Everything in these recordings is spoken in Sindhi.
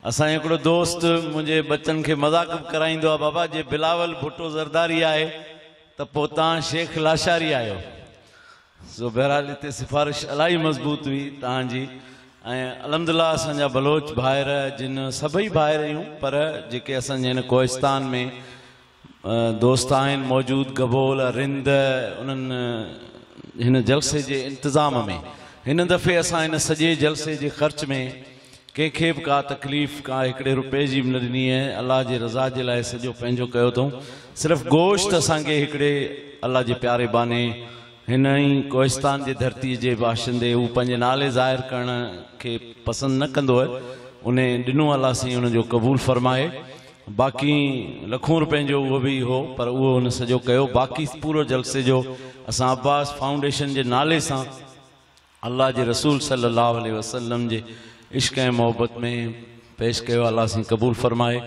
اسان جو هڪڙو دوست منهنجي ٻچن کي مذاق به ڪرائيندو آهي بابا جي بلاول ڀٽو زرداري آهي ته پوء تان شيخ لاشاري آهيو سو بهرحال هتي سفارش الاهي مضبوط هئي تان جي ۽ الحمد الله اسان جا بلوچ ڀائر جن سڀئي ڀائر اهيون پر جيڪي اسان جي هن ڪوهستان ۾ دوست آهن موجود گبول، رند انهن هن جلسي جي انتظام ۾ هن دفعي اسان هن سڄي جلسي جي خرچ ۾ ڪنهن کي به ڪا تڪليف ڪا هڪڙي روپئي جي به نه ڏني ۽ الله جي رضا جي لاء سڄو پنهنجو ڪيو اٿئون صرف گوشت اسان کي هڪڙي الله جي پياري باني هن ئي ڪوهستان جي ڌرتي جي باشندي هو پنهنجي نالي ظاهر ڪرڻ کي پسند نه ڪندو هي انهي ڏنو الله سائين ان جو قبول فرمائي. باقي لکون روپين جو اهو به هو پر اهو هن سڄو ڪيو باقي پورو جلسي جو اسان عباس فائونڊيشن جي نالي سان الله جي رسول صلي الله عليه وسلم جي عشق ۽ محبت ۾ پيش ڪيو الله سائين قبول فرمائي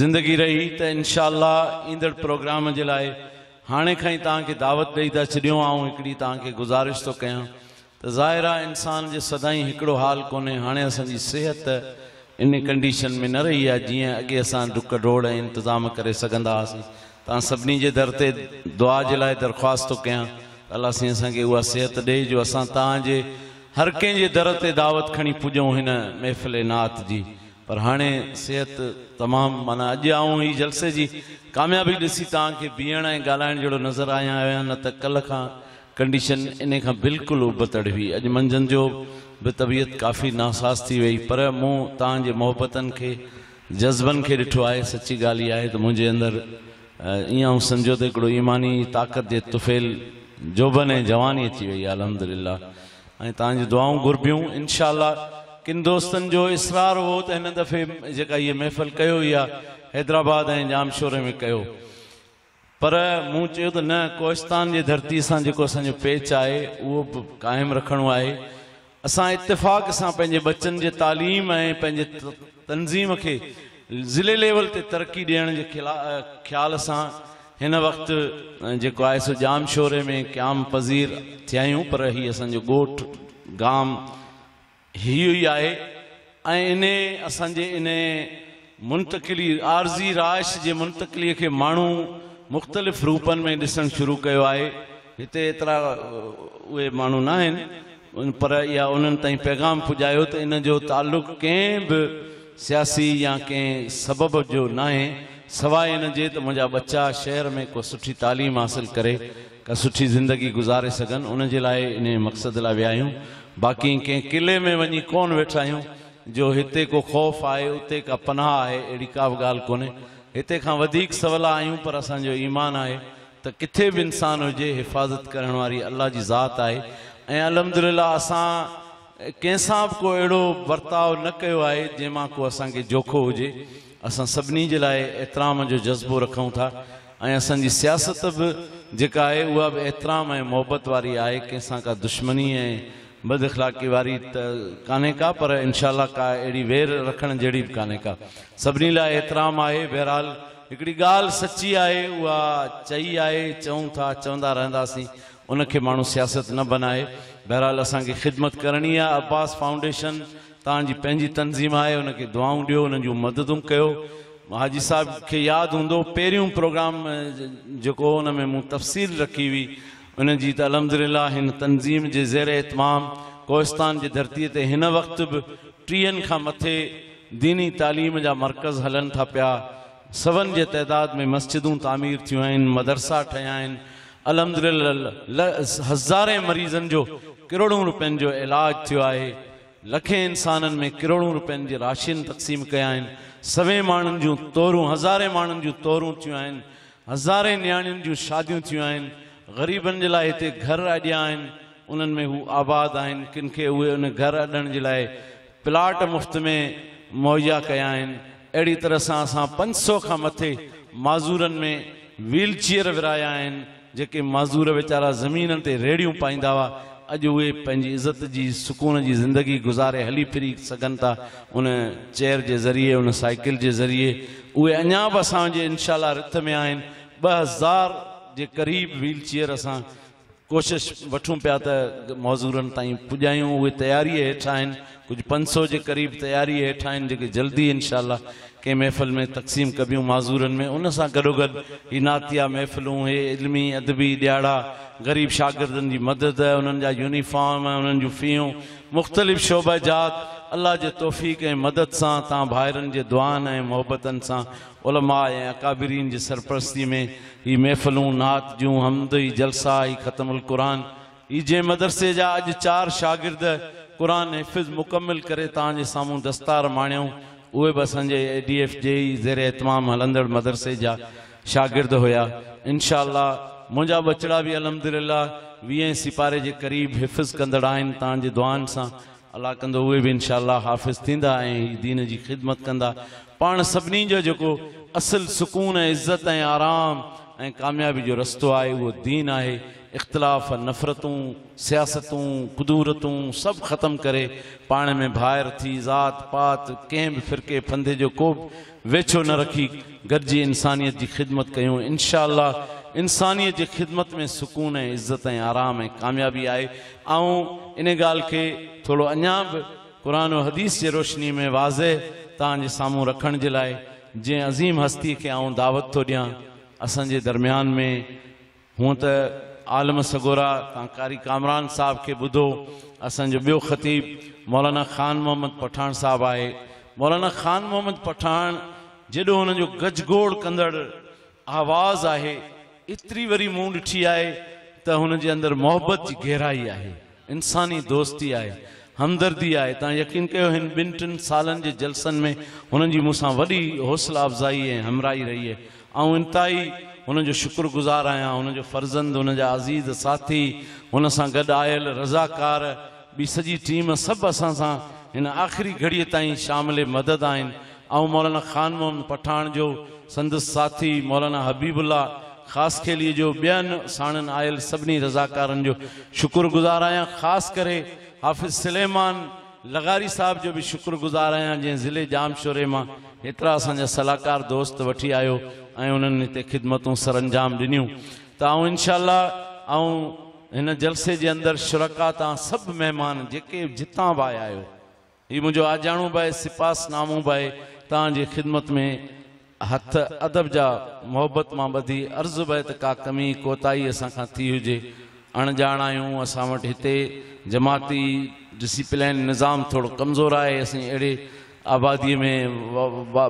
زندگي رهي ته انشاء الله ايندڙ پروگرام جي لاء هاڻي کان ئي توهان کي دعوت ڏئي ٿا ڇڏيون آئون هڪڙي توهان کي گذارش ٿو ڪيان ته ظاهر آ انسان جي سدائين هڪڙو حال ڪونهي هاڻي اسان جي صحت ان ڪنڊيشن ۾ نه رهي آ جيئن اڳي اسان ڊڪ ڊوڙ ۽ انتظام ڪري سگهندا هئاسين توهان سڀني جي در تي دعا جي لاء درخواست ٿو ڪيان ته الله سائين اسان کي اها صحت ڏي جو اسان توهان جي هر ڪنهن جي در تي دعوت کڻي پڄون هن محفل نعت جي پر هاڻي صحت تمام معنيٰ اڄ آئون هي جلسي جي ڪاميابي ڏسي توهان کي بيهڻ ۽ ڳالهائڻ جهڙو نظر آيان نه ته ڪلهه کان ڪنڊيشن انهي کان بلڪل ابتڙ هئي. اڄ منجهند جو به طبيعت ڪافي ناساز ٿي ويئي. پر مون توهان جي محبتن کي، جذبن کي ڏٺو آهي. سچي ڳالهه اها آهي ته منهنجي اندر ائين آئون سمجهيو ته هڪڙو ايماني طاقت جي طفيل جوڀن ۽ جواني اچي ويئي آهي. الحمدلله ۽ توهان جون دعائون گهربيون انشاء الله. ڪن دوستن جو اصرار هو ته هن دفعي جيڪا هيء محفل ڪيو اها حيدرآباد ۽ ڄامشوري ۾ ڪيو. پر مون چيو ته نه ڪوهستان جي ڌرتي سان جيڪو اسان جو پيچ آهي اهو به قائم رکڻو آهي. اسان اتفاق سان پنهنجي ٻچن جي تعليم ۽ پنهنجي تنظيم کي ضلعي ليول تي ترقي ڏيڻ جي خيال سان هن وقت جيڪو آهي سو ڄامشوري ۾ قيام پذير ٿيا آهيون پر هي اسان جو ڳوٺ گام هيء ئي آهي ۽ انهيء اسان جي انهيء منتقلي، عارضي رهائش جي منتقليء کي ماڻهو مختلف روپن ۾ ڏسڻ شروع ڪيو آهي. هتي ايترا اهي ماڻهو ناهن پر اها انهن تائين پيغام پڄايو ته ان جو تعلق ڪنهن به سياسي يا ڪنهن سبب جو ناهي سواء ان جي ته منهنجا ٻچا شهر ۾ ڪو سٺي تعليم حاصل ڪري ڪا سٺي زندگي گذاري سگهن ان جي لاء انهيء مقصد لاء ويا آهيون باقي ڪنهن قلعي ۾ وڃي ڪونه ويٺا آهيون جو هتي ڪو خوف آهي اتي ڪا پناهه آهي اهڙي ڪا به ڳالهه ڪونهي هتي کان وڌيڪ سولا آهيون پر اسان جو ايمان آهي ته ڪٿي به انسان هجي حفاظت ڪرڻ واري الله جي ذات آهي ۽ الحمدلله اسان ڪنهن سان به ڪو اهڙو برتاء نه ڪيو آهي جنهن مان ڪو اسان کي جوکو هجي، اسان سڀني جي لاء احترام جو جذبو رکون ٿا ۽ اسان جي سياست به جيڪا آهي اها به احترام ۽ محبت واري آهي، ڪنهن سان ڪا دشمني ۽ بد اخلاقي واري ته ڪانهي ڪا پر انشاء الله ڪا اهڙي وير رکڻ جهڙي به ڪانهي ڪا، سڀني لاء احترام آهي، بهرحال هڪڙي ڳالهه سچي آهي اها چئي آهي، چئون ٿا، چوندا رهنداسين، ان کي ماڻهو سياست نه بنائي. بهرحال اسان کي خدمت ڪرڻي آهي. عباس فائونڊيشن توهان جي پنهنجي تنظيم آهي ان کي دعائون ڏيو انهن جون مددون ڪيو. حاجي صاحب کي ياد هوندو پهريون پروگرام جيڪو هو ان ۾ مون تفصيل رکي هئي ان جي ته الحمدلله هن تنظيم جي زير اهتمام ڪوهستان جي ڌرتي تي هن وقت به ٽيهن کان مٿي ديني تعليم جا مرڪز هلن ٿا پيا سون جي تعداد ۾ مسجدون تعمير ٿيون آهن مدرسا ٺهيا آهن الحمدلله هزارين مريضن جو ڪروڙون روپين جو علاج ٿيو آهي، لکين انسانن ۾ ڪروڙون روپين جي راشين تقسيم ڪيا آهن، سوين ماڻهن جون تورون هزارين ماڻهن جون تورون ٿيون آهن، هزارين نياڻين جون شاديون ٿيون آهن، غريبن جي لاء هتي گهر اڏيا آهن، انهن ۾ هو آباد آهن، ڪن کي اهي ان گهر اڏڻ جي لاء پلاٽ مفت ۾ مهيا ڪيا آهن، اهڙي طرح سان اسان پنج سؤ کان مٿي معذورن ۾ ويل چيئر ورهايا آهن، جيڪي معذور ويچارا زمينن تي ريڙهيون پائيندا هئا، اڄ اهي پنهنجي عزت جي سڪون جي زندگي گذاري هلي ڦري سگهن ٿا، ان چيئر جي ذريعي ان سائيڪل جي ذريعي، اهي اڃا به اسان جي انشاء الله رٿ ۾ آهن، ٻه هزار جي قريب ويل چيئر اسان ڪوشش وٺون پيا ته معذورن تائين پڄايون اهي تياريء هيٺ آهن ڪجهه پنج سؤ جي قريب تياريء هيٺ آهن جيڪي جلدي انشاء الله ڪنهن محفل ۾ تقسيم ڪبيون معذورن ۾ ان سان گڏوگڏ هي نعتيه محفلون هي علمي ادبي ڏياڙا غريب شاگردن جي مدد انهن جا يونيفارم ۽ انهن جون فيون مختلف شعبه جات الله جي توفيق ۽ مدد سان تان ڀائرن جي دعائن ۽ محبتن سان علماء ۽ اڪابرين جي سرپرستي ۾ هي محفلون، نعت جون حمد هي جلسا هي ختم القرآن هي جنهن مدرسي جا اڄ چار شاگرد قرآن حفظ مڪمل ڪري توهان جي سامهون دستار ماڻيائون اهي به اسان جي اي ڊي ايف جي ئي زير اهتمام هلندڙ مدرسي جا شاگرد هيا انشاء الله منهنجا ٻچڙا به الحمدلله ويهين سيپاري جي قريب حفظ ڪندڙ آهن توهان جي دعائن سان الله ڪندو اهي به انشاء الله حافظ ٿيندا ۽ هي دين جي خدمت ڪندا. پاڻ سڀني جو جيڪو اصل سڪون ۽ عزت ۽ آرام ۽ ڪاميابي جو رستو آهي اهو دين آهي. اختلاف، نفرتون، سياستون، ڪدورتون سڀ ختم ڪري پاڻ ۾ ڀائر ٿي ذات پات ڪنهن به فرقي ڦندي جو ڪوبه ويڇو نه رکي گڏجي انسانيت جي خدمت ڪيون انشاء الله انسانيت جي خدمت ۾ سڪون ۽ عزت ۽ آرام ۽ ڪاميابي آهي آئون ان ڳالهه کي ٿورو اڃا به قرآن و حديث جي روشني ۾ واضح توهان جي سامهون رکڻ جي لاء جنهن عظيم هستي کي آئون دعوت ٿو ڏيان اسان جي درميان ۾ هونء ته عالم سڳورا تان قاري ڪامران صاحب کي ٻڌو، اسان جو ٻيو خطيب مولانا خان محمد پٺاڻ صاحب آهي. مولانا خان محمد پٺاڻ جيڏو هن جو گجگوڙ ڪندڙ آواز آهي، ايتري وري مون ڏٺي آهي ته هن جي اندر محبت جي گهرائي آهي. انساني دوستي آهي، همدردي آهي، تان يقين ڪيو هن ٻن ٽن سالن جي جلسن ۾ هنن جي مون سان وڏي حوصلا افزائي ۽ همراهي رهي آهي، آئون انتهائي هنن جو شڪر گذار آهيان، هنن جو فرزند، هنن جا عزيز ساٿي، هن سان گڏ آيل رضاڪار، ٻي سڄي ٽيم سڀ اسان سان هن آخري گهڙي تائين شامل مدد آهن، آئون مولانا خان محمد پٺاڻ جو سندس ساٿي مولانا حبيب الله خاصخيلي جو ٻين ساڻن آيل سڀني رضاڪارن جو شڪر گذار آهيان خاص ڪري حافظ سليمان لغاري صاحب جو به شڪر گذار آهيان جنهن ضلعي ڄام شوري مان هيترا اسان جا صلاحڪار دوست وٺي آيو ۽ انهن هتي خدمتون سرانجام ڏنيون ته آئون انشاء الله آئون هن جلسي جي اندر شرڪاء تان سڀ مهمان جيڪي جتان به آيا آهيو هي منهنجو آجياڻو به آهي سپاس نامو به آهي توهان جي خدمت ۾ هٿ ادب جا محبت مان ٻڌي عرض به آهي ته ڪا ڪمي ڪوتاهي اسان کان ٿي هجي اڻ ڄاڻ آهيون اسان وٽ هتي جماعتي ڊسيپلين نظام ٿورو ڪمزور آهي اسين اهڙي آبادي ۾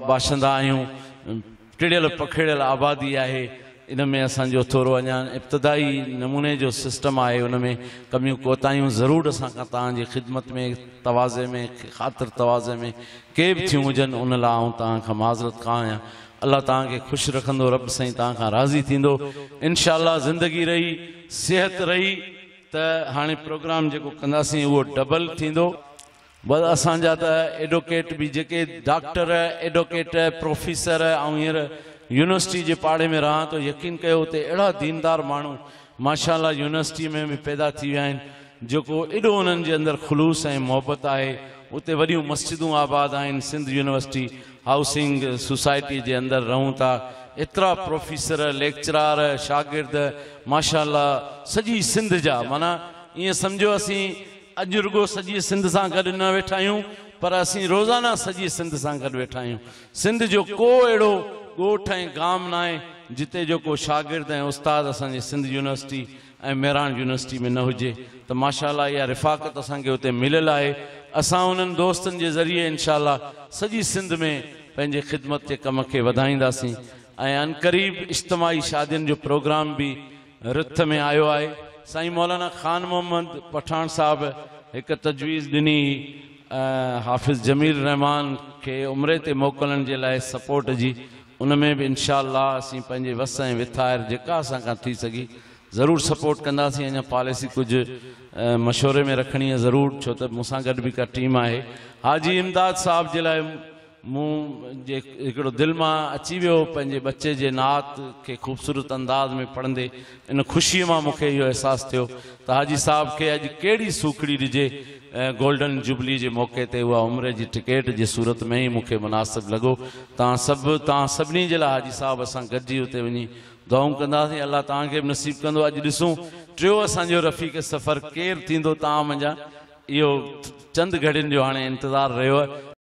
باشندا آهيون ٽڙيل پکيڙيل آبادي آهي ان ۾ اسان جو ٿورو اڃا ابتدائي نموني جو سسٽم آهي ان ۾ ڪميون ڪوتاهيون ضرور اسان کان توهان جي خدمت ۾ تواضع ۾ خاطر تواضع ۾ ڪي به ٿيون هجن ان لاء آئون توهان کان معذرت خواه آهيان الله توهان کي خوش رکندو رب سائين توهان کان راضي ٿيندو انشاء الله زندگي رهي صحت رهي ته هاڻي پروگرام جيڪو ڪنداسين اهو ڊبل ٿيندو. بس اسان جا ته ايڊوڪيٽ به جيڪي ڊاڪٽر، ايڊوڪيٽ، پروفيسر، آئون هينئر يونيورسٽي جي پاڙي ۾ رهان ٿو يقين ڪيو اتي اهڙا ديندار ماڻهو ماشاء الله يونيورسٽي ۾ به پيدا ٿي ويا آهن جيڪو ايڏو انهن جي اندر خلوص ۽ محبت آهي اتي وڏيون مسجدون آباد آهن سنڌ يونيورسٽي هائوسنگ سوسائٽي جي اندر رهون ٿا ايترا پروفيسر، ليڪچرار، شاگرد ماشاء الله سڄي سنڌ جا معنيٰ ائين سمجهو اسين اڄ رڳو سڄي سنڌ سان گڏ نه ويٺا آهيون پر اسين روزانه سڄي سنڌ سان گڏ ويٺا آهيون. سنڌ جو ڪو اهڙو ڳوٺ ۽ گام ناهي جتي جو ڪو شاگرد ۽ استاد اسان جي سنڌ يونيورسٽي ۽ مهراڻ يونيورسٽي ۾ نه هجي ته ماشاء الله اها رفاقت اسان کي اتي مليل آهي اسان انهن دوستن جي ذريعي انشاء الله سڄي سنڌ ۾ پنهنجي خدمت جي ڪم کي وڌائينداسين ۽ عنقريب اجتماعي شادين جو پروگرام به رٿ ۾ آيو آهي. سائين مولانا خان محمد پٺاڻ صاحب هڪ تجويز ڏني هئي حافظ جميل الرحمان کي عمري تي موڪلڻ جي لاء سپورٽ جي ان ۾ به انشاء الله اسين پنهنجي وس ۽ وٿائر جيڪا اسان کان ٿي سگهي ضرور سپورٽ ڪنداسين اڃا پاليسي ڪجهه مشوري ۾ رکڻي آهي ضرور ڇو ته مون سان گڏ به هڪ ٽيم آهي حاجي امداد صاحب جي لاء مون جي هڪڙو دل مان اچي ويو پنهنجي ٻچي جي نعت کي خوبصورت انداز ۾ پڙهندي ان خوشي مان مون کي اهو احساس ٿيو ته حاجي صاحب کي اڄ ڪهڙي سوکڙي ڏجي گولڊن جوبلي جي موقعي تي اها عمري جي ٽڪيٽ جي صورت ۾ ئي مون کي مناسب لڳو تان سڀ تان سڀني جي لاء حاجي صاحب اسان گڏجي اتي وڃي دعائون ڪنداسين الله تان کي به نصيب ڪندو اڄ ڏسون ٽيو اسان جو رفيق سفر ڪير ٿيندو تان منجهان اهو چند گهڙين جو هاڻي انتظار رهيو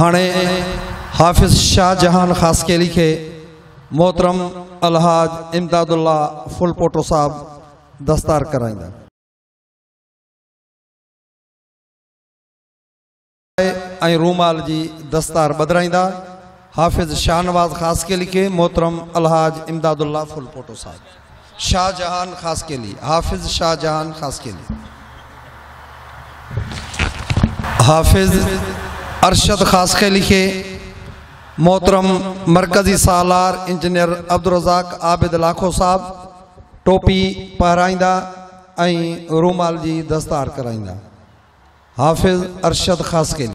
هاڻي حافظ شاهه جهان خاصخيلي کي محترم الحاج امداد الله ڦلپوٽو صاحب دستار ڪرائيندا. ۽ رومال جي دستار ٻڌرائيندا. حافظ شاهنواز خاصخيلي کي محترم الحاج امداد الله ڦلپوٽو صاحب. شاھ جهان خاصخيلي، حافظ شاھ جهان خاصخيلي. حافظ ارشد خاصخيلي کي محترم مرڪزي سالار انجنيئر عبدالرزاق عابد لاکو صاحب ٽوپي پهرائيندا ۽ رومال جي دستار ڪرائيندا. حافظ ارشد خاصخيلي.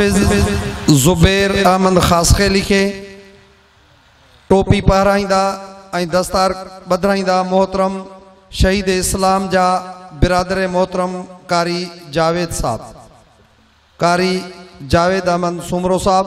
حافظ زبير احمد خاصخيلي کي ٽوپي پهرائيندا ۽ دستار ٻڌرائيندا محترم شهيد اسلام جا برادر محترم قاري جاويد صاحب قاري جاويد احمد سومرو صاحب.